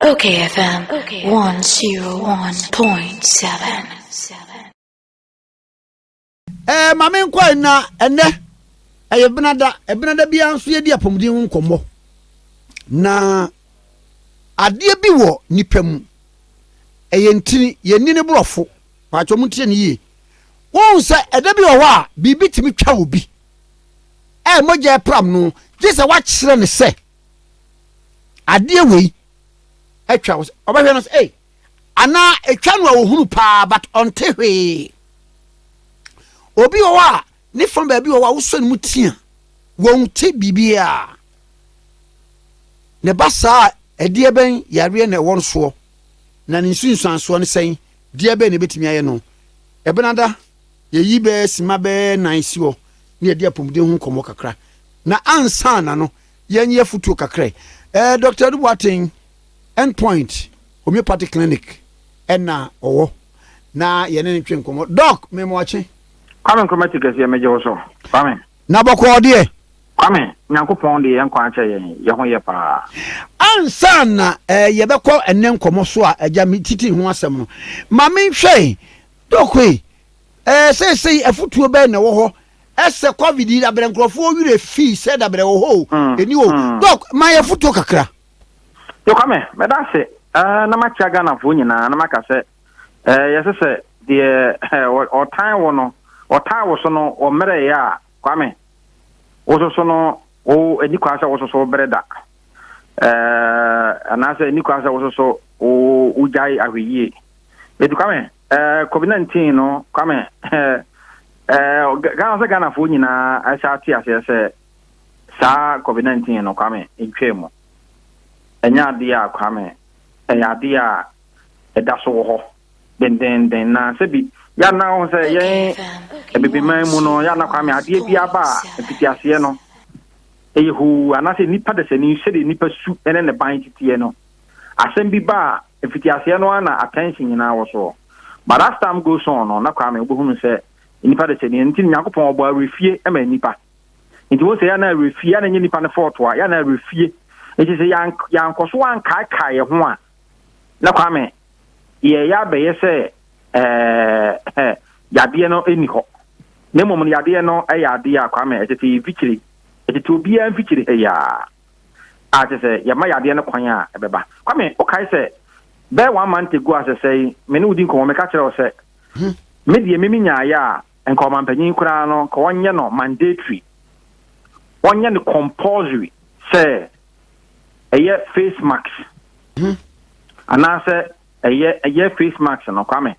Okay, FM 101.7. Eh, ma me nkɔ na ɛnɛ ɛyɛ benada ɛbenada biara nso yɛdi apɔmuden ho nkɔmmɔ na adeɛ bi wɔ nipa mu ɛyɛ ntini yɛnni ne borɔfo paatwa mu ntie ne yie wohu sɛ ɛda bi wɔ hɔ a biribi tumi twa obi ɛyɛ mogya ɛpram no gye sɛ wakyerɛ ne sɛ adeɛ wei atwa wo ɔbɛhwɛ no sɛ ei anaa ɛtwa no a ɔhunu paa but ɔnte hwee obi wɔ hɔ a ne fa baabi wɔ hɔ a wosɔ ne mu tia wɔn te biribiaa ne ba saa ɛdeɛ bɛn yareɛ na ɛwɔ no soɔ na ne nsunsuansoɔ no sɛn deɛ bɛn na ɛbɛtumi ayɛ no ɛbenada yɛyi bɛɛ sima bɛɛ nan si hɔ ne yɛde apɔmuden ho nkɔmmɔ kakra na ansa na no Yɛn yɛ futuo kakra yi. Ɛɛ Doctor Adu Boateng End Point Homeopathic Clinic ɛna ɔwɔ na yɛne ne twe nkɔmɔ. Doc me mo ɔkye. Kwame Nkrumah ti kɛseɛ megye wo so Kwame. Na bɔkɔɔ deɛ. Kwame Nyankopɔn de yɛn nkwa akyɛ yɛn yɛ ho yɛ paa. Ansa na ɛɛ yɛbɛkɔ ɛnɛ nkɔmɔ so a agya me titi ho asɛm no ma me nhwɛ Doc yi ɛɛ seesei afutuo bɛn na ɛwɔ hɔ Ɛsɛ covid yi dabrɛ nkurɔfoɔ werɛ fi sɛ dabrɛ wɔ hɔ o ɛni hɔ o doc ma yɛ fotuo kakra. Yokwame mɛda ase ɛɛ na makyia Ghanafoɔ nyinaa na maka sɛ ɛɛ yɛsɛ sɛ deɛ ɛɛ ɔtan wo no ɔtan wo so no ɔmmerɛ yɛ a Kwame wososo no wo ɛni kwan sɛ wososo wo bere da ɛɛ anaasɛ ɛni kwan sɛ wososo wo wogyae ahwɛyie ɛti Kwame Eh, covid nineteen no kwame eh, eh, ghana sɛ ghanafoɔ nyinaa ɛsɛ ate aseɛ sɛ saa covid nineteen no kwame ntwaa mu ɛnyɛ adeɛ a kwame ɛyɛ adeɛ a ɛda so wɔ hɔ dendenden na sɛbi yɛana ho sɛ yɛn abibiman mu no yɛana kwame adeɛ bi aba a mfitiaseɛ no ɛyɛ hoo anaasɛ nnipa dasani sɛdeɛ nnipa su ne ne ban titiɛ no Asɛm bi ba a, mfitiaseɛ no ara na attention nyinaa wɔ soɔ. But as time goes on no, na Kwame wobɛhunu sɛ nnipa desani, ɛno nti no Nyankopɔn ɔbɔɔ awerɛfie ma nnipa. Nti wohu sɛ yɛ a na awerɛfie, yɛ a na ɛnyɛ nnipa no fault a, yɛ a na awerɛfie. Nti sɛ yɛan, yɛankɔ so ankaekae yɛ ho a, na Kwame yɛɛyɛ abɛyɛ sɛ ɛɛ yadeɛ no nni hɔ. Na mmom no yadeɛ no yɛ adeɛ a Kwame ɛtete yɛ mfikyire, ɛtete obiara mfikyire ha yi ara. a kyerɛ sɛ yɛma yadeɛ no kwan a, ɛbɛba. Kwame, wokae sɛ bɛyɛ one month ago a sɛsɛe me ne wo di nkɔmmɔ, meka kyerɛɛ wo sɛ me deɛ me menyaeɛ a, nka ɔmampanyin koraa no, nka wɔnyɛ no mandatory, wɔnyɛ no compulsory sɛ ɛyɛ face mask anaasɛ ɛyɛ ɛyɛ face mask no, Kwame.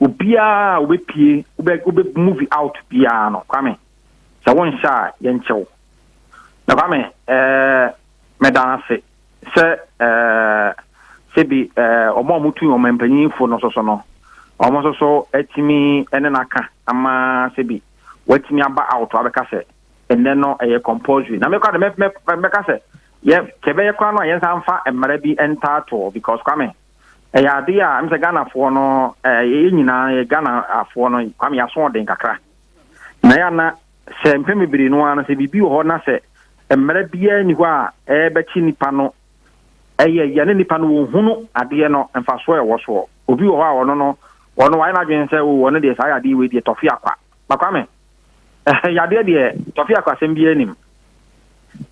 Obiara a wobɛpie, wobɛ wobɛ movie out biara no, Kwame, sɛ wonhyɛ a yɛnkyɛ wo. Ɛfa me ɛɛ meda no ase sɛ ɛɛ sɛbi ɛɛ wɔn a wɔtu wɔn mpanyinfo no soso no wɔn nso so atumi ne no aka ama sɛbi wɔatumi aba awoto abɛka sɛ ɛnɛ no ɛyɛ compulsory na mekɔ de mɛka sɛ yɛ kyɛbɛyɛ kora no a yɛnsa mfa mmara bi ntaatoɔ because kwame ɛyɛ adeɛ a ɛm sɛ ghanafoɔ no ɛɛ yɛ nyinaa yɛ ghanafoɔ no kwame yɛaso ɔden kakra na yɛ ana Sɛ mpɛn bebree no ara no, sɛ biribi wɔ hɔ na sɛ mmara biara nni hɔ a ɛrebɛkye nipa no, ɛyɛ yɛ ne nipa no wɔnhunu adeɛ no mfasoɔ a ɛwɔ soɔ. Obi wɔ hɔ a ɔno no, ɔno wayɛ n'adwene sɛ o ɔno deɛ saa yadeɛ wei deɛ tɔfe akwa. Ba Kwame, yadeɛ deɛ tɔfe akwa asɛm biara nnim.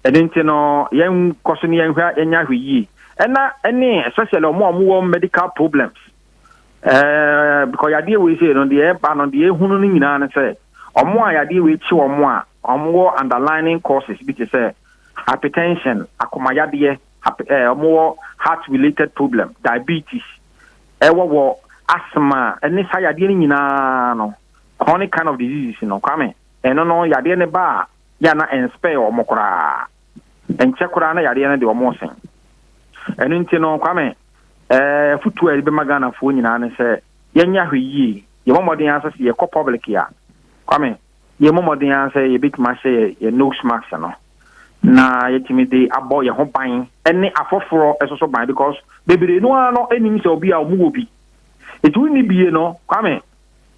Ɛno nti no, yɛnkɔ so ne yɛnhwɛ yɛnyɛ ahwɛ yie. Ɛna ɛne especially wɔn a wɔwɔ medical problems. Eh, because yadeɛ wei sei no deɛ ɛba no deɛ ehunu no nyinaa no sɛ ɔmo a yadeɛ wei kye ɔmo a ɔmo wɔ underlining causes bi te sɛ hypertension akomayadeɛ eh, ɔmo wɔ heart related problem diabetes ɛwɔ wɔ asthma ɛne saa yadeɛ no nyinaa no chronic kind of diseases no kwame ɛno no yadeɛ no ba a yɛ ana ɛnspɛɛ ɔmo koraa. Ɛnkyɛ koraa na yareɛ no de wɔn resen. Ɛno nti no, Kwame, eh, afutuo a yɛde bɛma Ghanafoɔ nyinaa ne sɛ yɛnyɛ ahwɛyie, yɛmmɔ mmɔden ara sɛ sɛ yɛkɔ public a, Kwame, yɛmmɔ mmɔden ara sɛ yɛbɛtumi ahyɛ yɛ, yɛ nose mask no na yɛtumi de abɔ yɛn ho ban ne afoforɔ nso so ban because bebree no ara no nim sɛ obi a wɔwɔ bi. Ɛti wonni bie no, Kwame,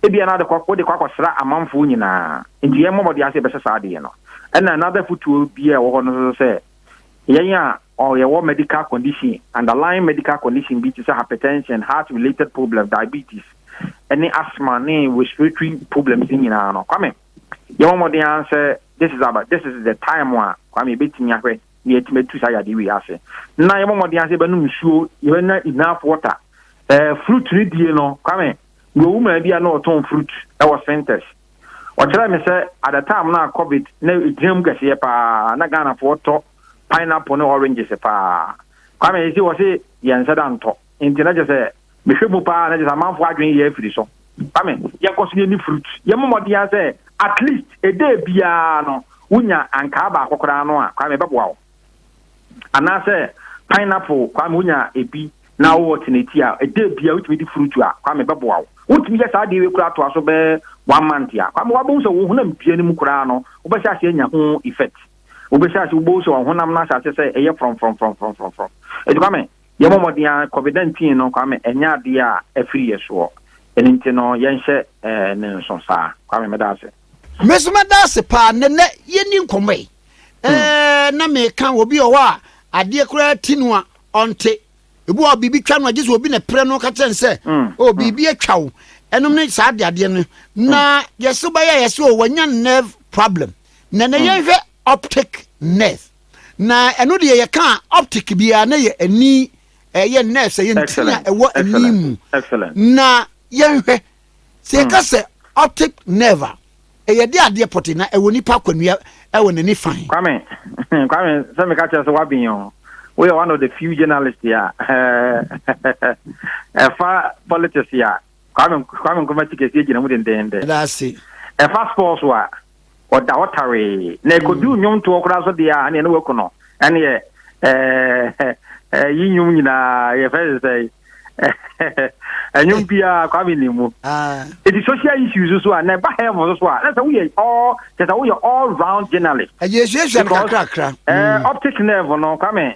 Ebia na wode kɔ akɔsra amanfoɔ nyinaa, nti yɛmmɔ mmɔden ara sɛ yɛbɛhyɛ saa adeɛ no. Ɛna another afotuo bi a ɛwɔ hɔ no nso sɛ, yɛn a yɛwɔ medical condition, underlying medical condition bi te sɛ hypertension, heart related problem, diabetes, ne asthma ne respiratory problems no nyinaa no, Kwame, yɛmmɔ mmɔden ara sɛ this is, this is the time a Kwame yɛbɛtumi ahwɛ na yɛatumi atu saa yadeɛ wei ase na yɛbɔ mmɔden ase yɛbɛnom nsuo yɛbɛnya enough water ɛɛ eh, fruit no die no kwame mewɔ wo maa bi a na ɔtɔn fruit ɛwɔ centers ɔkyerɛ me sɛ at the time na covid na ɛgyina mu kɛseɛ paa na ghanafoɔ tɔ pineapple ne oranges paa kwame ɛsi wɔ se yɛn nsa da ntɔ nti na kyɛ sɛ Mehwɛ mu paa na kyerɛ sɛ amanfoɔ adwene yɛ afiri so. Kwame, yɛnkɔ so yɛni fruit. Yɛmmɔ mmɔden ara sɛ at least a day biara no wonya ankaa baako koraa no a, Kwame, ɛbɛboa wo. Anaasɛ pineapple, Kwame, wonya ebi na wowɔ te n'akyi a, a day biara wotumi di fruit a, Kwame, ɛbɛboa wo. Wotumi yɛ saa adeɛ wei koraa toa so bɛyɛ one month a, Kwame, woabɛhu sɛ wo honam dua no mu koraa no, wobɛhyɛ aseɛ anya ho effect. Wobɛhyɛ aseɛ, wobɛhu sɛ wo honam no ahyɛ aseɛ sɛ ɛyɛ frɔmfrɔmfrɔmfrɔmfrɔm. Enti Kwame, Yɛbɔ mmɔden ara, COVID-19 no, Kwame, ɛnyɛ adeɛ a afiri yɛ soɔ. Ɛno nti no, yɛnhyɛ no nso saa. Kwame, meda ase. Me nso mɛda ase pa ara. Nnɛ yɛnni nkɔmmɔ yi, na meka obi wɔ hɔ a, adeɛ koraa ti no a, ɔnte. Ebi wɔ hɔ a, biribi twa no a, gye sɛ obi na ɛpere no ka kyerɛ no sɛ, Oh, biribi atwa wo. Ɛnom ne saa adeadeɛ no. Na yɛse wobɛyɛ a, yɛse, Oh, wanya nerve problem. Na nnɛ yɛnhwɛ optic nerve. Na ɛno deɛ yɛka a optic biara na yɛ ani ɛyɛ nerves ɛyɛ ntini a ɛwɔ ani mu na yɛnhwɛ sɛ yɛka hmm. sɛ optic nerve a ɛyɛ de adeɛ pɔte na ɛwɔ nipa akwanua ɛwɔ n'ani fan. kwame kwame sɛ meka kyerɛ sɛ wabin o woyɛ one of the few journalists a ɛfa politics a Kwame Kwame Nkrumah ti kɛseɛ gyina mu dendenden. Ɛda ase. Ɛfa sports so a, ɔda hɔ tawee. Na ɛkɔduru nnwomtoɔ koraa so deɛ a, ɛneɛ na waku no. Ɛneɛ ɛɛ ɛyi nnwom nyinaa yɛfrɛ ne sɛ ɛnwom biara Kwame nim mu. Ɛti social issues so a, na ɛba health so so a, na sɛ woyɛ all kyɛ sɛ woyɛ all round journalist. Ɛyɛ esuasua no kakrakra. Ɛɛ optic nerve no Kwame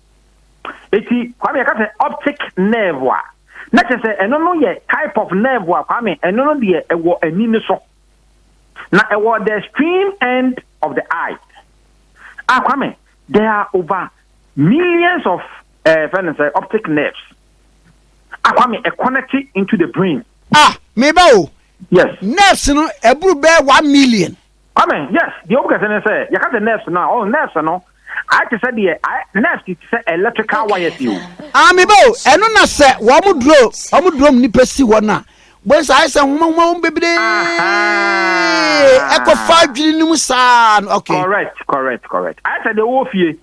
Eti Kwame yɛka sɛ optic nerve a, na kyerɛ sɛ ɛno no yɛ type of nerve a Kwame ɛno no deɛ ɛwɔ ani no so. Na ɛwɔ the stream end of the eye. Ah Kwame, there are over millions of eh, fɛ no sɛ optic nerves. Ah Kwame, ɛ connect into the brain. Ah, meba o. Yes. Nerves no ɛboro bɛyɛ one million. Amen yes deɛ ɔmu kɛse ne sɛ yɛka sɛ nerves no a ɔn nerves no ayɛ te sɛ deɛ ayɛ nerves te sɛ electrical wires yi o. Ah me ba o ɛno na sɛ wɔn duro wɔn duro mu nipa si hɔ no a bohu sɛ ayɛ sɛ nwoma nwoma wɔn bebree ɛkɔ fa adwiri no mu saa no okay. Correct correct correct ayɛ sɛ deɛ wɔ fie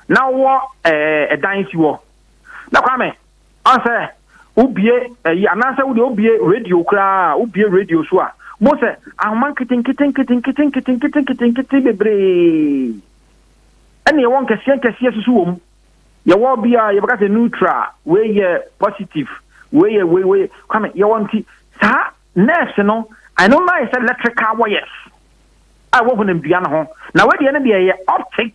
na wɔ ɛɛ ɛdan si hɔ na kwame. Ɔn sɛ wo bue ɛyi anaa sɛ wo deɛ wo bue radio koraa wo bue radio so a mo sɛ ahoma nketenkete nketenkete nketenkete nketenkete bebree ɛna yɛwɔ nkɛseɛ nkɛseɛ soso wɔ mu yɛwɔ bi a yɛbɛka sɛ neutral wei yɛ positive wei yɛ wei wei kwame yɛwɔ nti saa nerves no ɛno no ayɛ sɛ electrical wires a ɛwɔ honamdua no ho na wei deɛ no deɛ ɛyɛ optic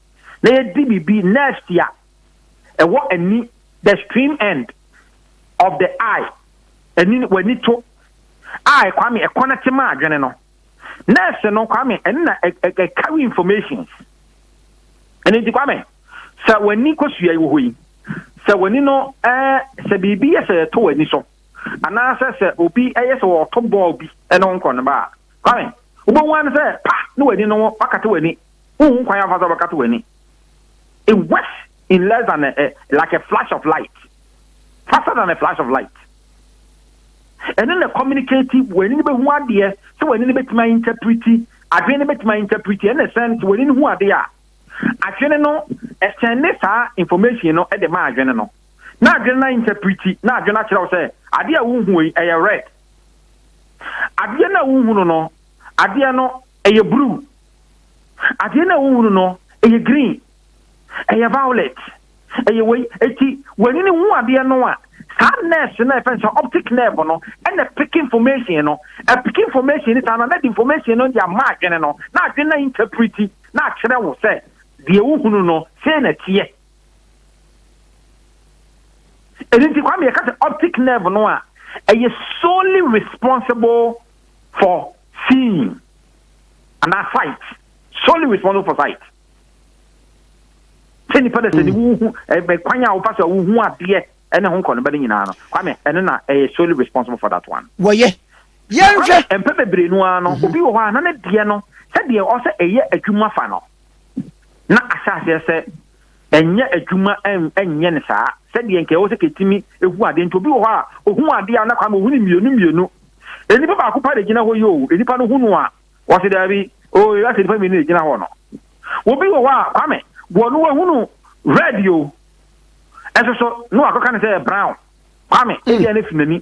na yɛdi biribi nerves a ɛwɔ ani the stream end of the eye ani w'ani to a kwame ɛkɔnɛte ma adwene no nerves no kwame ɛne na ɛcarry informations ɛne nti kwame sɛ w'ani kɔsua wɔ hɔ yi sɛ w'ani no ɛɛ sɛ biribi yɛ sɛ yɛto w'ani so anaasɛ sɛ obi ɛyɛ sɛ wɔto bɔɔl bi ɛne nkɔ no ba a kwame wobɛhu ano sɛ pa ne w'ani no wakate w'ani Wonhu kwan amfa sɛ wobɛkata w'ani. It works in less than a, a, like a flash of light. Faster than a flash of light. Ɛno na communicate w'ani no bɛhu adeɛ sɛ w'ani no bɛtumi ainterpreti, adwene no bɛtumi ainterpreti, ɛna ɛsɛn sɛ w'ani no hu adeɛ a, adwene no ɛsɛnde saa information no de ma adwene no, na adwene no ainterpreti, na adwene akyerɛ wo sɛ adeɛ a wohu yi ɛyɛ red. Adeɛ no a wohu no no, adeɛ no ɛyɛ blue. Adeɛ no a wohunu no, ɛyɛ green, ɛyɛ violet, ɛyɛ wei. Eti w'ani no hu adeɛ no a, saa nerves no a yɛfrɛ no sɛ optic nerve no ɛna ɛpeke information no. Ɛpeke information no saa na na ɛde information no de ama adwene no, na adwene no ainterprete na akyerɛ wo sɛ deɛ wohunu no sei na ɛteɛ. Ɛno nti Kwame yɛka sɛ optic nerve no a ɛyɛ solely responsible for seeing. anaa sight solely responsible for sight sɛ nipa dɛ sɛ ne wohu kwan a wofa so a wohu adeɛ ɛne ho nkɔ no bɛ ne nyinaa no kwame ɛno na ɛyɛ solely responsible for that one wɔyɛ yɛnhwɛ mpɛ bebree no ara no obi wɔ hɔ a na ne deɛ no sɛdeɛ ɔsɛ ɛyɛ adwuma fa no na ahyɛ aseɛ sɛ Ɛnyɛ adwuma nyɛ no saa sɛdeɛ nka ɛwɔ sɛ kɛtumi hu adeɛ nti obi wɔ hɔ a ohuu adeɛ a na kwame ohunu mmienu mmienu nnipa baako pa na egyina hɔ yi o nnipa no hu no a wɔsi daabi o yɛ asɛ nnipa mmienu na egyina hɔ no obi wɔ hɔ a kwame wɔ no wahunu red o ɛso so na wakɔka no sɛ yɛ brown kwame hmm. ebi a ne fi n'ani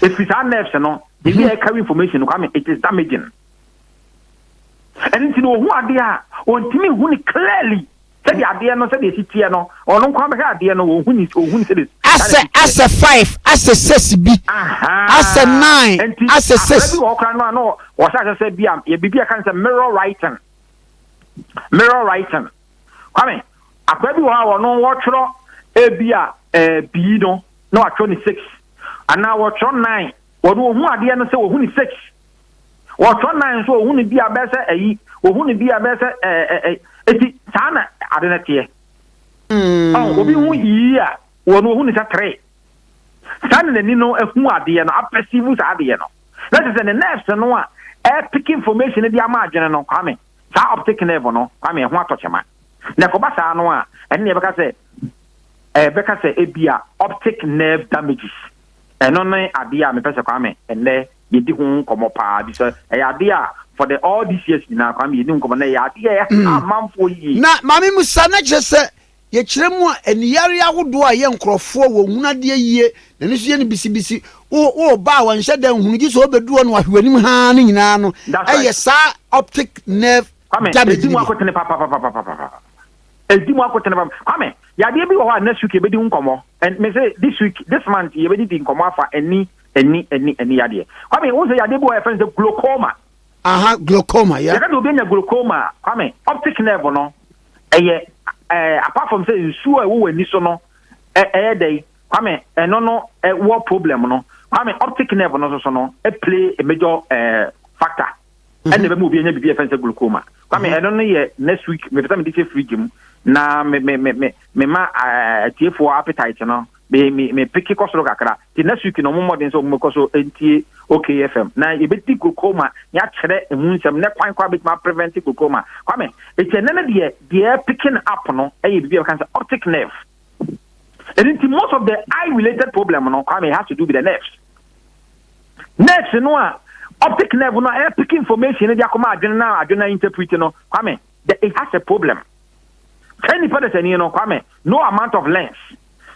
efi saa nerves no ebi a ɛka information no kwame it is damaging. ɛno nti no ɔhu adeɛ a ɔntumi hu no clearly sɛdeɛ adeɛ no sɛdeɛ ɛsi teɛ no ɔno nko abɛhwɛ adeɛ no ɔhu ni ɔhu ni sɛdeɛ asɛ asɛ five asɛ six bi asɛ nine asɛ six nti bi wɔ kora no a na wɔhyɛ ahyɛ sɛ bi a yɛ biribi a kan sɛ mirror writing mirror writing kwame akora bi wɔ hɔ a wɔno wɔtwerɛ ebi a ɛɛ bii no na wɔatwerɛ ne six anaa wɔtwerɛ nine wɔno wɔhu adeɛ no sɛ wɔhu ne six Wɔtɔ nan nso ohu no bi a bɛyɛ sɛ ayi, ohu no bi a bɛyɛ sɛ ɛɛ eh, eh, eh, eti saa na ade no teɛ. Mm. Obi hu yii a, wɔn ohu no sɛ tere. Saa na n'ani no ehu adeɛ no, apɛsivu saa adeɛ no. Na kyerɛ sɛ ne nerves no a ɛpeke information no de ama adwene no, kwame, saa optic nerve no, kwame, ɛho atɔ kyema. Na ɛkɔba saa no a, ɛne na yɛbɛka sɛ ɛbɛka sɛ ebi a optic nerve damages. Ɛno ne adeɛ a mepɛ sɛ Kwame ɛnnɛ yɛdi ho nkɔmmɔ paa bi sɛ ɛyɛ adeɛ a for the all these years nyinaa Kwame yɛni nkɔmmɔ na ɛyɛ adeɛ a ɛha amanfoɔ yie. Na maame mu saa na kyerɛ sɛ yɛkyerɛ mu a aniyareɛ ahodoɔ a ɛyɛ nkorɔfoɔ wɔ nhunu adeɛ yie na ɛno nso yɛ no bisibisi wo wo ba a wanhyɛ da nhunu gye sɛ ɔbɛdu hɔ na wahwɛ w'anim haa ne nyinaa no ɛyɛ saa optic nerve damage no bi. Kwame, ɛdi mu akotene papapapapapapa. Edi mu akotene pam. Kwame, yadeɛ bi wɔ hɔ a next week yɛbɛdi ho nkɔmmɔ. And me se this week, this month yɛbɛdidi nkɔmmɔ afa ani, ani, ani, ani yadeɛ. Kwame, wohu sɛ yadeɛ bi wɔ hɔ a yɛfrɛ no sɛ glaucoma? Aha, glaucoma, yeah. Yɛka sɛ obi anya glaucoma a, Kwame, optic nerve no, ɛyɛ, eh, apart from sɛ nsuo a ɛwɔ w'ani so no, ɛ, ɛyɛ dɛn? Kwame, ɛno no, ɛwɔ problem no. Kwame, optic nerve no nso so no, ɛplay a major, eh, factor. ɛna ɛbɛma obi anya biribi a yɛfrɛ sɛ glaucoma kwame ɛno no yɛ next week mepɛ sɛ mede hyɛ fridge mu na me me me me mema atiefoɔ eh, appetite no me me me peke kɔ soro kakra nti next week na ɔmo mmɔden sɛ ɔmo bɛkɔ so ntie okfm na yɛbɛdi glaucoma na yɛakyerɛ emu nsɛm ne kwan kɔ a bɛtumi aprevent glaucoma kwame ɛkyɛ nɛ no deɛ deɛ picking up no ɛyɛ biribi a bɛka sɛ optic nerve ɛno nti most of the eye related problem no kwame has to do with the nerves Nurse no a optic nerve no a ɛyɛ pick information no de akɔma adwene na adwene na interpret no, Kwame, the, it has a problem. Sɛ nipa da sani no, Kwame, no amount of lens,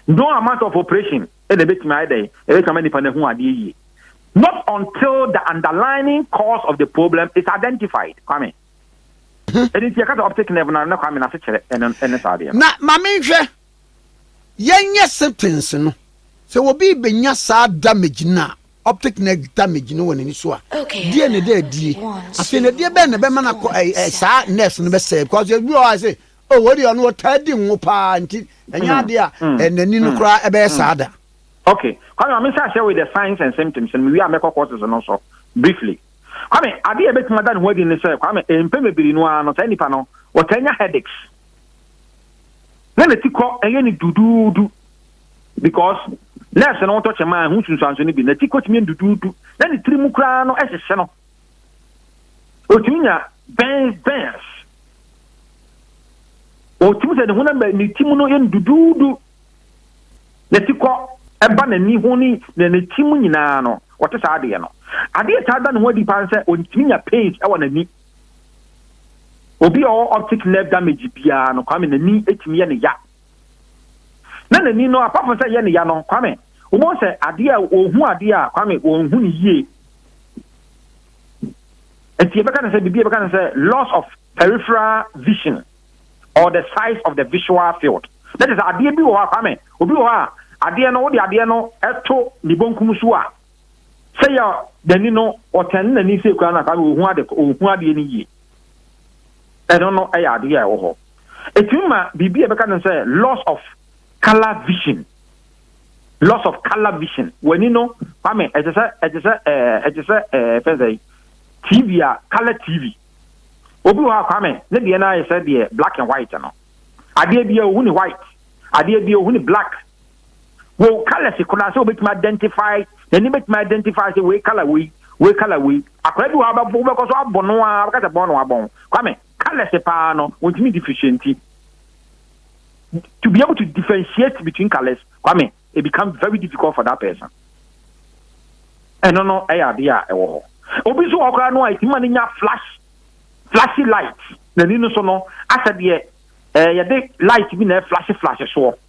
no amount of operation, ɛna ɛbɛtumi ayɛ dɛn, ɛbɛtumi ama nipa no ahu adeɛ yie. Not until the underlying cause of the problem is identified. Kwame. Ɛdi nti ɛka sɛ optic nerve na na Kwame n'ase kyerɛ ɛne saa adeɛ no. Na ma menhwɛ Yɛnyɛ syphilis no, sɛ obi rebɛnya saa damage no a, optic nerve damage no wɔ n'ani so a, deɛ na ɛda adie? Afei na ɛdeɛ bɛn na ɛbɛma no akɔ ɛɛ ɛɛ saa nerves no bɛsɛe? Because ebi wɔ hɔ a sɛ o wɔ deɛ ɔno ɔtaa di ngo paa nti ɛnyɛ mm. adeɛ a mm. eh, n'ani no mm. koraa ɛbɛyɛ saa da. Okay, kwame maame nsa ahyɛ with the signs and symptoms no mewie a mɛkɔ courses no so briefly. Kwame adeɛ a ɛbɛtumi ada ne ho adi ne sɛ kwame mpɛ bebree no ara no saa nipa no wɔtaa nya headaches. na ne ti kɔ ɛyɛ ne duduudu because nurse no wotɔ kyɛm a ɛho sunsuanso no bi na ti kɔtumi yɛ duduudu na ne tiri mu koraa no ɛhyehye no ɔtumi nya bɛn bɛns ɔtumi sɛ ne honam bɛ ne ti mu no yɛ ne duduudu na ti kɔ ɛba n'ani ho ne na ne ti mu nyinaa no wɔte saa adeɛ no adeɛ taa da ne ho adi paa sɛ ɔtumi nya pains ɛwɔ n'ani Obi a ɔwɔ optic nerve damage biara no, Kwame, n'ani tumi yɛ no ya. Na n'ani no, apart from sɛ ɛyɛ no ya no, Kwame, wobɛhu sɛ adeɛ a ɔhu adeɛ a, Kwame, ɔnhu no yie. Nti yɛbɛka no sɛ, biribi yɛbɛka no sɛ loss of peripheral vision or the size of the visual field. Na kyerɛ sɛ adeɛ bi wɔ hɔ a, Kwame, obi wɔ hɔ a, adeɛ no, wode adeɛ no to ne bonkum so a, sɛ yɛ n'ani no ɔtɛn n'ani sɛ kura no a saa ɔhu ade ɔhu adeɛ no yie ɛno no ɛyɛ adeɛ a ɛwɔ hɔ ɛtumi ma biribi a ɛbɛka no sɛ loss of color vision loss of color vision w'ani no kwame ɛte sɛ ɛte sɛ ɛɛ ɛte sɛ ɛɛ fɛn sɛ tv a color tv obi wɔ hɔ a kwame ne deɛ no ayɛ sɛ deɛ black and white no adeɛ bi a ohu ne white adeɛ bi a ohu ne black Wɔ wo colours koraa sɛ wobɛtumi identify, n'ani bɛtumi identify sɛ wei colour wei, wei colour wei. Akwadaa bi wɔ hɔ wobɛkɔ so abɔ no a wobɛka sɛ bɔn na wabɔn. Kwame, colours paa no wɔntumi differentiate. To be able to differentiate between colours, Kwame, it becomes very difficult for that person. Ɛno no ɛyɛ adeɛ a ɛwɔ hɔ. Obi nso wɔ koraa no a ɛtumi ma no nya flash, flashy light. N'ani no so no asɛ deɛ eh, yɛde light bi na ɛflashe flashe soɔ.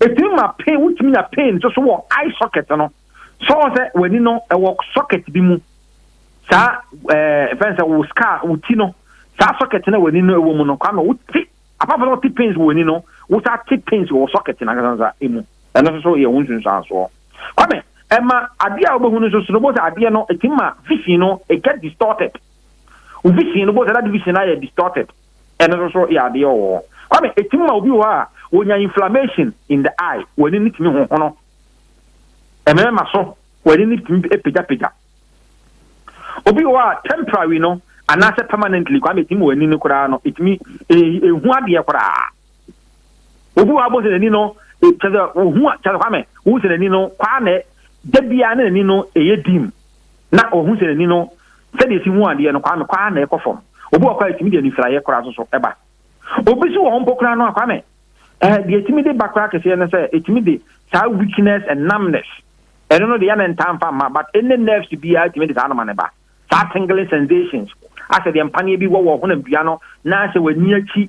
Ɛtumi ma pain, wotumi nya pain nso so wɔ eye socket no. So wɔn sɛ w'ani no ɛwɔ socket bi mu. Saa ɛɛ fɛn sɛ wo scar wo ti no saa socket no w'ani no ɛwɔ mu no kwame wo ti apart from ti pains wɔ ani no wo saa ti pains wɔ socket no ankasansa emu. Ɛno nso so yɛ ho nsunsuansoɔ. Kwame ɛma adeɛ a wobɛhu no nso so no bosa adeɛ no ɛtumi ma vision no it get distorted. Wo vision no bosa that vision no ayɛ distorted. Ɛno nso so yɛ adeɛ wɔ hɔ. Kwame, ɛtumi ma obi wɔ hɔ a, wɔnya inflammation in the eye, w'ani no tumi hohono. Ɛmɛɛma so, w'ani no tumi pagyapagya. Obi wɔ hɔ a, temporary no, anaasɛ permanently, Kwame, ɛtumi ma w'ani no koraa no, ɛtumi ɛhu adeɛ koraa. Obi wɔ hɔ abɔ sɛ n'ani no, kyɛ sɛ, wohu, kyɛ sɛ Kwame, wohu sɛ n'ani no, kwaa na da biara na n'ani no ɛyɛ dim. na ɔhu sɛ n'ani no sɛdeɛ ɛsi hu adeɛ no, Kwame, kɔ ara na ɛkɔ fam. Obi wɔ hɔ koraa a ɛtumi de anisraeɛ koraa nso so ba. Obi nso wɔ hɔ mpo koraa no a, Kwame, eh, deɛ ɛtumi de ba koraa kɛseɛ ne sɛ ɛtumi de saa weakness and numbness, ɛno no deɛ yɛ ne ntaa mfa mma, but ɛnɛ nerves biara ɛtumi de saa no ma ne ba. Saa tingling sensations, asɛ deɛ mpaneɛ bi wɔ wɔ honam dua no, na asɛ w'ani akyi,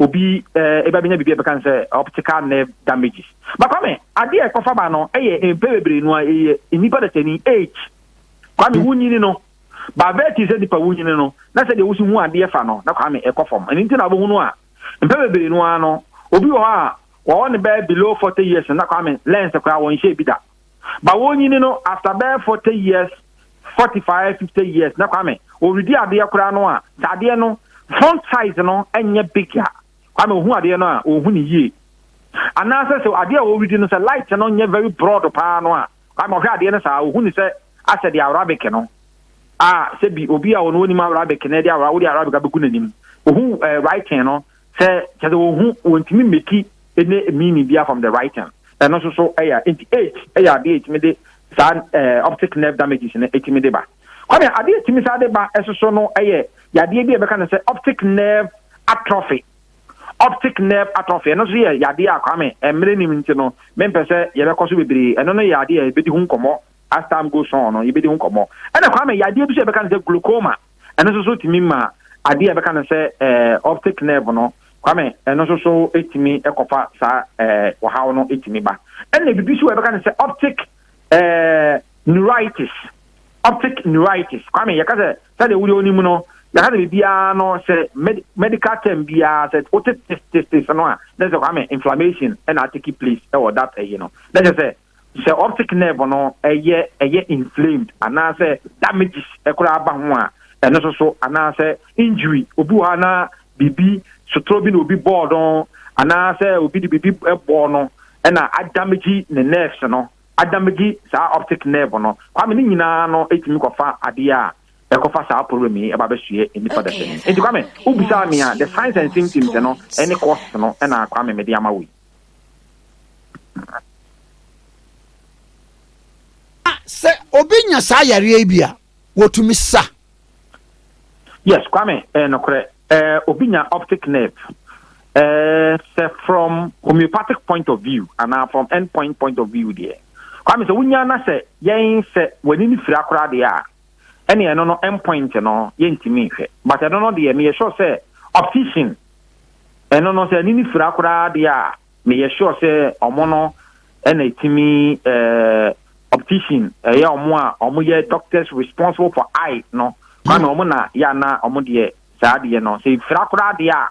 obi eh, ebe abɛnya biribi a ɛbɛka no sɛ optical nerve damages ba kwame adeɛ a ɛkɔfa ba no ɛyɛ mpɛ bebree no a ɛyɛ nnipa dasani age kwame hmm. wonyini no baabɛɛ ti sɛ nipa wonyini no na sɛ deɛ wosi hu adeɛ fa no na kwame ɛkɔ fam ɛno nti na wobɛhu no a mpɛ bebree no ara no obi wɔ hɔ a wɔwɔ ne bɛɛ below forty years na kwame lens koraa wɔnhyɛ bi da Ba wonyini no after bɛyɛ forty years forty five fifty years na kwame oredi adeɛ koraa no a sɛ adeɛ no font size no nyɛ big a kwame ohu adeɛ no a ohu no yie anaasɛ sɛ adeɛ a oredi no sɛ light no nyɛ very broad paa no a kwame ɔhwɛ adeɛ no saa ohu no sɛ asɛ de arabic no a sɛ bi obi a ɔno onim arabic na ɛde ara wode arabic abɛgu n'anim ohu eh, writing no Sɛ kyerɛ sɛ wɔhu wɔntumi mmeki ne meaning bia from the writing. Ɛno nso so yɛ nti age yɛ adeɛ ɛtumi de saa eh, optic nerve damages no ɛtumi de ba. Kwame, adeɛ ɛtumi saa de ba ɛso so no yɛ yadeɛ bi a ɛbɛka no sɛ optic nerve atrophy optic nerve atrophy ɛno nso yɛ yadeɛ a Kwame mmerɛ nim nti no mempɛ sɛ yɛbɛkɔ so bebree ɛno no yɛ adeɛ a yɛbɛdi ho nkɔmmɔ as time goes on no yɛbɛdi ho nkɔmmɔ ɛna Kwame yadeɛ bi so yɛbɛka no sɛ glaucoma Ɛno nso so tumi ma adeɛ a yɛbɛka no sɛ optic nerve no, Kwame, ɛno nso so tumi kɔfa saa ɔhaw no tumi ba. Ɛna biribi nso wɔ yɛbɛka no sɛ optic neuritis. Optic neuritis. Kwame, yɛka sɛ sɛdeɛ wodeɛ wonim no, yɛka sɛ biribiara no sɛ medical term biara sɛ wote testes no a, na sɛ Kwame inflammation ɛna atake place ɛwɔ that ɛyi no. Na kyerɛ sɛ sɛ optic nerve no yɛ ɛyɛ inflamed anaasɛ damages koraa ba ho a, ɛno nso so, anaasɛ injury, obi wɔ hɔ na biribi sotoro bi na obi bɔɔ no anaasɛ obi de biribi bɔɔ no ɛna adamage ne nerves no, adamage saa optic nerve no. Kwame, ne nyinaa no tumi kɔfa adeɛ a ɛkɔfa saa problem yi ɛba bɛsoɛ nnipa dɛsɛ mu. Nti Kwame, wobisaa me a, the signs and symptoms no ne causes no na Kwame mede ama wo yi. na sɛ obi nya saa yareɛ yi bi a wɔtumi sa yes kwame eh, nokorɛ eh, obi nya optic nerve eh, sɛ from homeopathic point of view anaa from end point point of view deɛ kwame sɛ wonya na sɛ yɛn sɛ w'ani no fira koraa deɛ a ɛne ɛno no end point no yɛntumi nhwɛ but ɛno no deɛ meyɛ sure sɛ optician Ɛno no sɛ nini fira koraa deɛ a meyɛ sure sɛ ɔmo no ɛna ɛtumi ɛɛ optician ɛyɛ ɔmo a ɔmo yɛ doctors responsible for eye no kwa na ɔmo na yɛ ana ɔmo deɛ saa deɛ no sɛ fira koraa deɛ a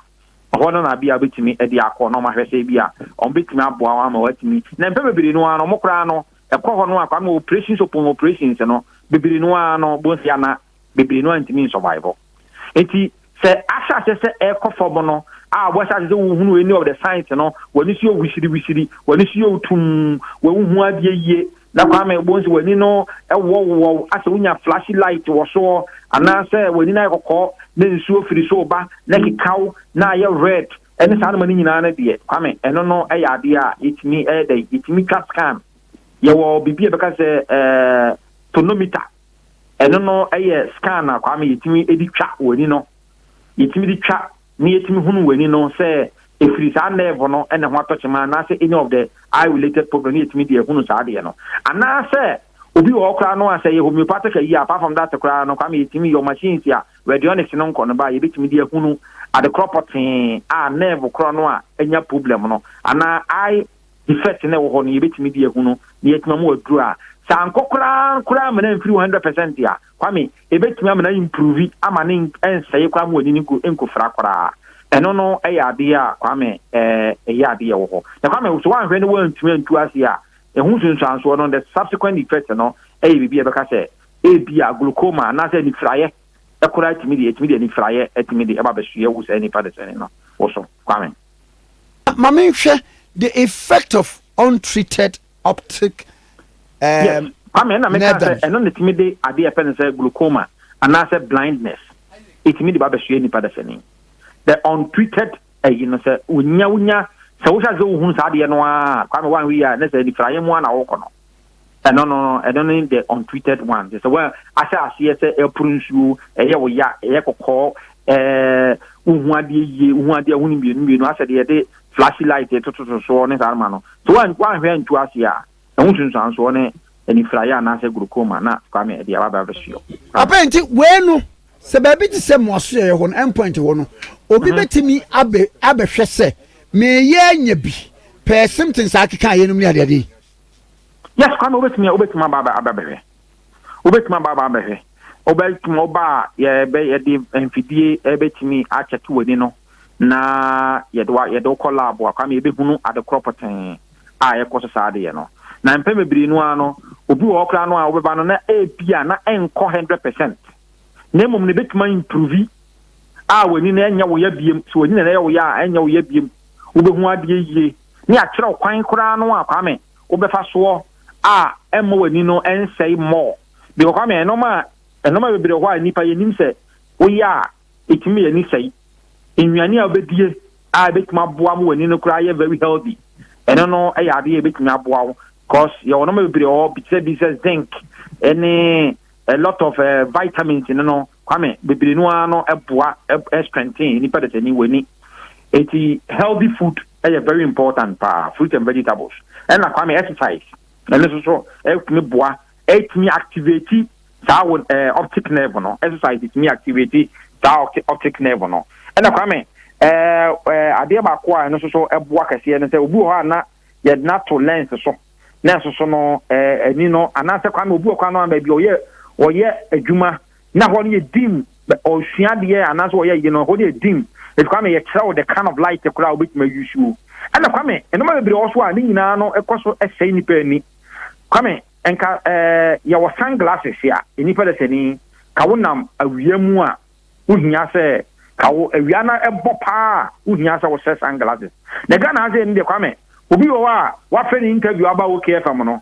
ɛhɔ no na bi a ɔbɛtumi ɛde akɔ na ɔmo ahwɛ sɛ bi a ɔmo bɛtumi aboa wɔn ama wɔatumi na mpɛ bebree no ara no ɔmo koraa no ɛkɔ hɔ no a kwa no operations upon operations no bebree no ara no bonsɛ ana bebree no antumi nsɔvaevo. Enti sɛ ahyɛ aseɛ sɛ ɛrekɔ fam no a wɔhyɛ aseɛ sɛ wohunu any of the signs no, w'ani so yɛ wisiriwisiri, w'ani so yɛ otum, wɔnhu adeɛ yie, na Kwame ɛbɔ nsi w'ani no ɛwɔwowɔw asɛ wonya flashy light wɔ soɔ, anaasɛ w'ani no ayɛ kɔkɔɔ na nsuo firi so ba na ɛkekaw na ayɛ red ɛne saa noma no nyinaa no deɛ, Kwame ɛno no ɛyɛ adeɛ a yɛtumi ɛyɛ dɛ yɛtumi twa scan. Yɛwɔ biribi a ɛbɛka sɛ eh, tonometer. Ɛno no yɛ scan a Kwame yɛtumi de twa w'ani no. Yɛtumi de twa na yɛtumi hunu w'ani no sɛ ɛfiri saa nerve no na ɛho atɔ kyema anaasɛ any of the eye related problem na yɛtumi de ahunu saa adeɛ no. Anaasɛ obi wɔ hɔ koraa no a sɛ ɛyɛ homeopathic ayi a apart from that koraa no Kwame yɛtumi yɔ machines a radionics no nkɔ no ba a yɛbɛtumi de ahunu adekorɔ pɔtee a nerve korɔ no a anya problem no anaa eye defect no ɛwɔ hɔ no yɛbɛtumi de ahu no na yɛatumi ama waduru a sɛ ankɔ koraa koraa amena amfiri 100 percent a kwame ɛbɛtumi amena improve ama ne ɛnsɛe koraa ma wani no nkofira koraa ɛno no ɛyɛ adeɛ a kwame ɛyɛ adeɛ wɔ hɔ na kwame so wanhwɛ no wantumi antu ase a ɛho nsunsuansoɔ no the subsequent effect no ɛyɛ biribi a ɛbɛka sɛ ebi a glaucoma anaasɛ anifiraeɛ ɛkoraa tumi de ɛtumi de anifiraeɛ ɛtumi de ɛba bɛsoɛ wo saa nipa de sɛne no wo so kwame Ma menhwɛ the effect of untreated optic um, Kwame, ɛna meka sɛ nerve ɛno na ɛtumi de adeɛ a ɛfɛ no sɛ glaucoma anaasɛ blindness ɛtumi de ba bɛsoɛ nipa dasani the untreated ayi no sɛ wonya wonya sɛ wohyɛ sɛ wohunu saa adeɛ no a Kwame wanhwɛ yi a ne sɛ nifraeɛ mu a na wokɔ no Ɛno no, ɛno ne the untreated one. Kyerɛ sɛ woahyɛ aseɛ sɛ ɛporo nsuo, ɛyɛ wo ya, ɛyɛ kɔkɔɔ, ɛɛ wohu adeɛ yie, wohu adeɛ ho ne mmienu mmienu, asɛ deɛ yɛde flashy light ɛtototo soɔ ne saa ma no. So woanhwɛ antu aseɛ a, ɛho sunsuansoɔ ne anifiraeɛ anaasɛ glaucoma na Kwame ɛde aba abɛsoɔ. Papa nti wei no sɛ baabi te sɛ mmoasoɛeɛ hɔ no endpoint hɔ no obi mhm. bɛtumi abɛ abɛhwɛ sɛ meyɛ anya bi pɛɛ symptoms akeka yɛnom ne adeade yi. Yes, Kwame, wobɛtumi wobɛtumi aba aba abɛhwɛ. Wobɛtumi aba aba abɛhwɛ. Wobɛtumi ɔba a yɛbɛ yɛde mfidie ɛbɛtumi akyɛke w'ani no na yɛde wa yɛde wokɔ lab a Kwame yɛbɛhunu ade korɔ pɔtee a ɛkɔ so saa adeɛ no. Na mpɛn bebree no ara no obi wɔ hɔ koraa no a wobɛba no na ebi a na ɛnkɔ hundred percent na mmom no ebɛtumi improve a w'ani no ɛnyɛ wo ya biem so w'ani na ɛyɛ wo ya a ɛnyɛ wo ya biem wobɛhu adeɛ yie ne akyerɛw kwan koraa no a Kwame wo bɛfa soɔ a ɛmma w'ani no nsɛe more because Kwame nnoɔma nnoɔma bebree wɔ hɔ a nnipa yɛnim sɛ wo yɛ a ɛtumi ma y'ani sɛe nnuane a wobɛdie a ɛbɛtumi aboa ma w'ani no koraa yɛ very healthy ɛno no yɛ adeɛ a ɛbɛtumi aboa wo because yɛwɔ nnoɔma bebree wɔ hɔ bi te sɛ bi sɛ zinc ɛne a lot of uh, vitamins no no Kwame, bebree no ara no boa strengthen nnipa dasani w'ani. Enti healthy food yɛ very important paa, fruit and vegetables. Ɛna Kwame exercise, ɛno nso so ɛtumi boa, ɛtumi activate saa wo ɛɛ optic nerve no, exercise ɛtumi activate saa optic nerve no. Ɛna Kwame, ɛɛ ɛɛ adeɛ baako a ɛno nso so ɛboa kɛseɛ no sɛ obi wɔ hɔ a na yɛde no ato lens so na ɛsoso no ani no anaasɛ kwan obi wɔ kwan no ama bi ɔyɛ ɔyɛ adwuma na hɔ no yɛ dim ɔsua adeɛ anaasɛ ɔyɛ yi no hɔ no yɛ dim ɛti kwame yɛkyerɛ wo the kind of light koraa wobɛtumi ayi suo ɛna kwame ɛnoma bebree wɔ so a ne nyinaa no ɛkɔ so ɛsɛe nipa ani kwame nka ɛɛ yɛwɔ sunglasses a nnipa dɛ sɛni ka wonam awia mu a wohia sɛ ka wo awia na ɛbɔ paa a wohia sɛ wohyɛ sun glasses na Ghana ha sɛ ɛni deɛ kwame obi wɔ hɔ a wafɛ ne interview aba wo KFM no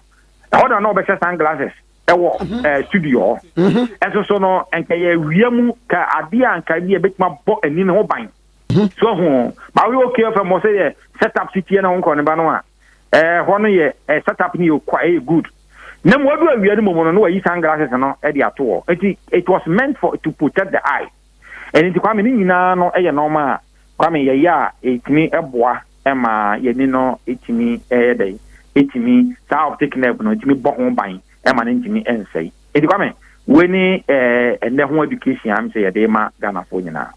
ɛhɔ na na ɔbɛhyɛ sun glasses ɛwɔ mhm. eh, studio hɔ mhm. ɛso so no nka yɛ awia mu ka adeɛ a nka bi ɛbɛtumi abɔ ani no ho ban mhm. so ho ma woyɛ KFM wɔ sɛ yɛ set up sitiɛ na wo nkɔ ne ba no a ɛɛ hɔ no yɛ ɛɛ set up no yɛ okwa ɛyɛ good na mu ɔdo awia no mu no na wayi sunglasses no ɛde ato hɔ nti it was meant for to protect the eye ɛne nti kwame ne nyinaa no ɛyɛ nɔɔma a kwame yɛyɛ a ɛtumi ɛboa ɛma yɛni no ɛtumi ɛyɛ dɛ ɛtumi saa optic nerve no ɛtumi bɔ ho ban ɛma no ntumi ɛnsɛe nti kwame wei ne ɛɛ ɛnɛ ho education a mesɛ yɛde ma Ghanafoɔ nyinaa.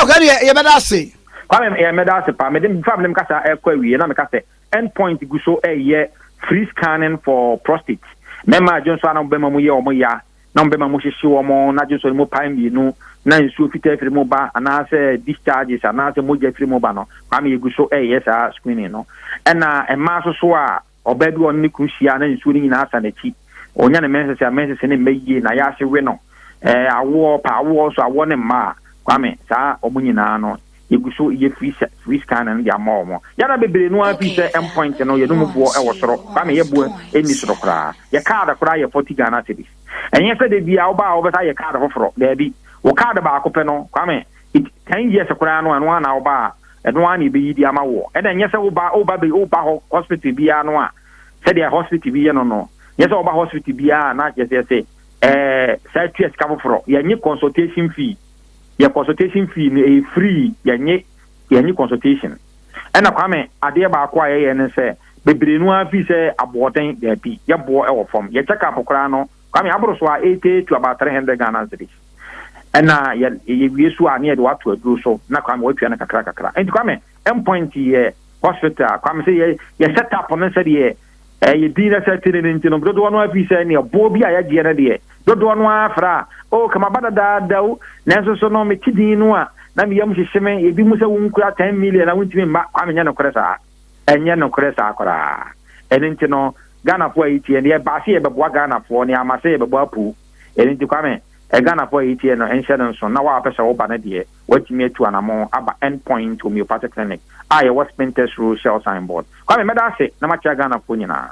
ok ɛne yɛ yɛbɛda ase kwame yɛ mɛda ase paa mede mfa mene mkasa ɛkɔ awie na meka sɛ end point gu so ɛyɛ free scanning for prostate mɛma adwo nso a na mobɛma mu yɛ ɔmo ya na mobɛma mu hyehye ɔmo na adwo nso no mu pae mmienu na nsuo fitaa firi mu ba anaasɛ discharges anaasɛ mogya firi mu ba no kwame yɛgu so ɛyɛ saa screening no ɛna mmaa soso a Ɔbaa bi a ɔne ne kunu hyia a na nsuo no nyinaa asa n'akyi. Ɔnya ne mensese a mensese no mma yie, na yaase we no. Ɛɛ, awoɔ, pɛ awoɔ nso, awoɔ ne mma a, Kwame, saa wɔn nyinaa no, yɛgu so yɛ free, sɛ, free scanning no de ama wɔn. Yɛada bebree no ara firi sɛ end point no, yɛn mu boɔ wɔ soro. Kwame, yɛ boɔ nni soro koraa. Yɛ card koraa yɛ forty Ghana cedis. Ɛnyɛ sɛ da biara woba a wobɛsan ayɛ card foforɔ. Daabi. Wo card baako pɛ no, Kwame, it, ten years koraa no, ɛno ara na woba a, ɛno ara na yɛbɛyi de ama woɔ. Ɛna nyɛ sɛ woba woba bɛ woba hɔ hospital biara no a sɛdeɛ hospital bi yɛ no no nyɛ sɛ woba hospital biara a na kyerɛ sɛ yɛsɛ ɛɛ saa tua sika foforɔ yɛnye consultation fee yɛ consultation fee no ɛyɛ free yɛnye yɛnye consultation ɛna kwame adeɛ baako a yɛyɛ ne sɛ bebree no ara fii sɛ aboɔden daabi yɛboɔ ɛwɔ fam yɛ check up koraa no Kwame, aboro so a, ɛretwa to about three hundred Ghana cedis. Ɛna yɛ yɛwie so a, ne yɛde wo ato aduro so, na Kwame woatua no kakra kakra. Nti Kwame, end point yɛ hospital. Kwame sɛ yɛ yɛ set up no sɛdeɛ ɛyɛ din na sɛ te ne no nti no, dodoɔ no ara firi sɛ neɛ boɔ bi a yɛgyeɛ no deɛ, dodoɔ no ara frɛ a, oh ka maba dadaada o, nanso so no mete din no a, na me yam hyehye me, ebi mu sɛ wonkura ten million a wontumi mma. Kwame, nyɛ nokorɛ saa. Ɛnyɛ nokorɛ saa koraa. Ɛno nti no Ghanafoɔ a yɛtie no yɛbaa sɛ yɛbɛboa Ghanafoɔ na yɛama sɛ yɛbɛbɔ apuu. Ɛno nti Kwame, Ghanafoɔ a yɛtie no nhyɛ no nso na wo a wopɛ sɛ woba no deɛ woatumi atu anamɔn aba End Point Homeopathic Clinic a yɛwɔ Spintex Road Shell Sign Board. Kwame, mɛda ase na makyea Ghanafoɔ nyinaa.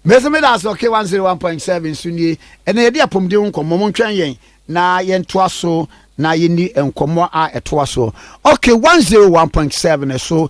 Me nso meda ase Okay one zero one point seven so nie, ɛnna yɛdi apɔmuden ho nkɔmmɔ. Montwɛn yɛn na yɛntoa so na yɛnni nkɔmmɔ a ɛtoa soɔ Okay one zero one point seven so.